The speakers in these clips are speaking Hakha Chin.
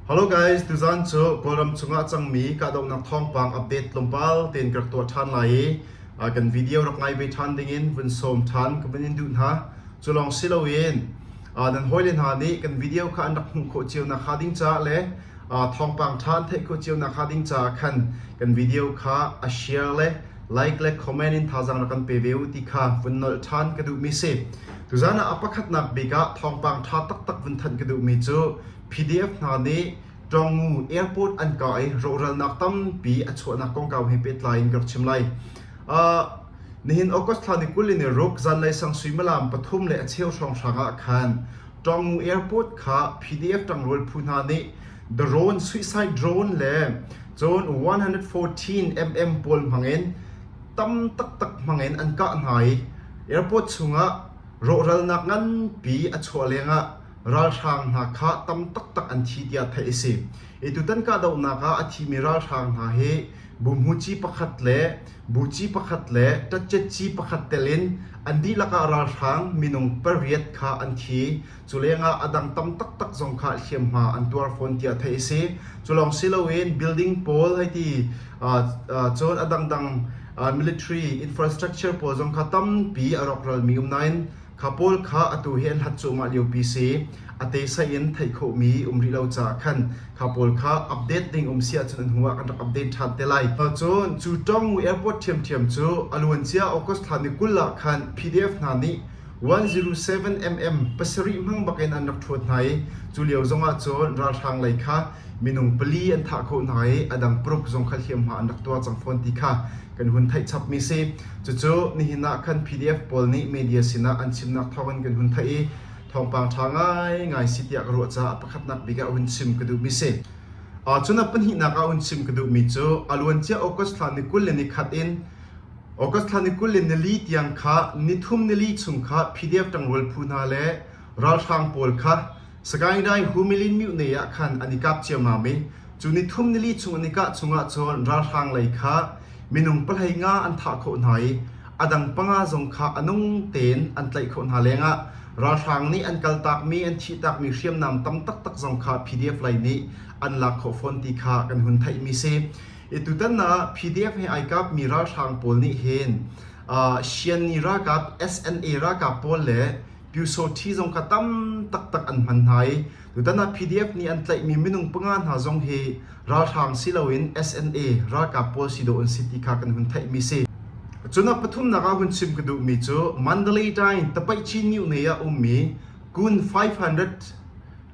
Hello guys, tuzaan cu Kawlram chungah cangmi kahdohnak thawngpang update tlawmpal tein ka rak tuah ṭhan lai i kan video rak ngai ve ṭhan dingin vun sawm ṭhan ka vun in duh hna. Cu lawng si loin nan hawile hna nih kan video kha an rak hmuh khawh cio nakhnga ding caah le thawngpang ṭha an theih khawh cio nakhnga ding caah khan kan video kha a share le Like le comment in thazaang na kan pe ve u ti kha vun nolh ṭhan ka duhmi si. Tuzaan ah a pakhatnak bik ah thawngpang ṭha taktak vun thanh ka duhmi cu PDF hna nih Ṭawngu airport an kah i rawhralnak tampi a chuahnak kongkau he pehtlai in ka rak chim lai. Uh, nihin August thla ni kul in i ruk zanlei sang suimalam pathum le a cheu hrawng hrang ah khan Ṭawngu airport kha PDF ṭangrual phu hna nih Drone suicide drone le cun 114mm pawl hmangin tam taktak hmangin an kah hna i airport chungah rawhralnak nganpi a chuah lengah ralhrang hna kha tam taktak an thi tiah theih a si. Hi tutan kahdohnak ah a thimi ralhrang hna hi Bumhuci pakhat le Buci pakhat le Tatchetci pakhat telin an dihlak ah ralhrang minung pariat kha an thi. Culengah a dang tam taktak zong kha hliamhma an tuar fawn tiah theih a si. Culawng si loin building pawl hei ti cun a dangdang military infrastructure pawl zong kha tampi a rawkralmi um nain kha pawl kha atu hi an hlat cuahmah liopi si a tesai in theih khawhmi um rih lo caah khan kha pawl kha update ding um si ahcun an hnu ah kan rak update ṭhan te lai. Cun cu Tawngmu airport ṭhiamṭhiam cu a luancia August thla ni kul ah khan PDF hna nih 107mm pasarih hmang bakin an rak ṭhawt hna i culio zongah cun ralhrang lei kha minung pali an thah khawh hna i a dang paruk zong kha hliamhma an rak tuah cang fawn ti kha kan hun theih chapmi si. Cucu nihin ah khan PDF pawl nih media sinah an chimnak thawngin kan hun theih i thawngpang ṭha ngaingai si tiah ka ruah caah pakhatnak bik ah hun chim ka duhmi si. Uh, cun a pahnihnak ah hun chim ka duhmi cu a luancia August thla ni kul le ni khat in August thla ni kul in nili tiang kha nithum nili chung kha PDF ṭangrual phu hna le ralhrang pawl kha Sagaing Dai Humilin Myone ah khan an i kap ciammam i cu nithum nili chung an i kah chungah cun ralhrang lei kha minung pahlei nga an thah khawh hna i a dang panga zong kha a nung tein an tlaih khawh hna lengah ralhrang nih an kaltakmi an thihtakmi hriamnam tam taktak zong kha PDF lei nih an lak khawh fawn ti kha kan hun theihmi si. Tutan ah PDF he ai kap mi ralhrang pawl nih hin Shanni ralkap SNA ralkap pawl le Pyusawhti zong kha tam taktak an hman hna i tutan ah PDF nih an tlaih mi minung panga hna zong hi ralhrang si loin SNA ralkap pawl si dawh an si ti kha kan hun theih mi si. Cun a pathumnak ah hun chim ka duh mi cu Mandalay Tain Tapaichi New Nay ah um mi kun 500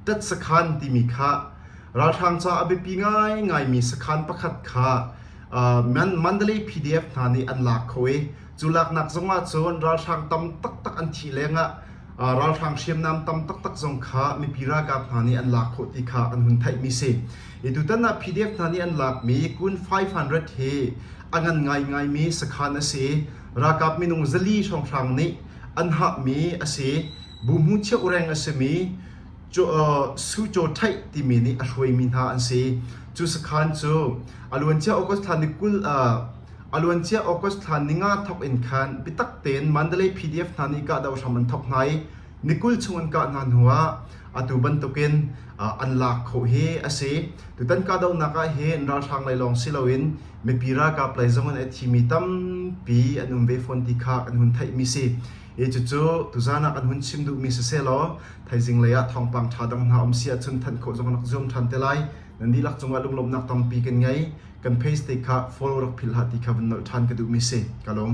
tet sakhan timi kha ralhrang ca a biapi ngaingaimi sakhan pakhat kha Mandalay PDF hna nih an lak kho i cu laknak zongah cun ralhrang tam taktak an thih lengah ralhrang hriamnam tam taktak zong kha mipi ralkap hna nih an lak khawh ti kha kan hun theihmi si i tutan ah PDF hna nih an lakmi kun 500 hi a ngan ngaingaimi sakhan a si ralkap minung zali hrawnghrang nih an hahmi a si Bu hmu cheuhreng a simi Suzhou Theih timi nih a hruaimi hna an si. Cu sakhan cu a luancia August thla ni kul a luancia August thla ninga thawk in khan biatak tein Mandalay PDF hna nih kahdoh hram an thawk hna i ni kul chung an kah hna hnuah atu bantukin an lak khawh hi a si. Tutan kahdohnak ah hin ralhrang lei lawng si loin mipi ralkap lei zong in a thimi tampi an um ve fawn ti kha kan hun theihmi si. Hi cucu tuzaan ah kan hun chim duhmi sisehlaw thaizing lei ah thawngpang ṭha dang hna um si ahcun thanh khawh zong rak zuam ṭhan te lai. Nan dihlak cungah lunglawmnak tampi kan ngei. Kan page te kha follow rak philh hlah ti kha vun nolh ṭhan ka duhmi si. Ka lawm.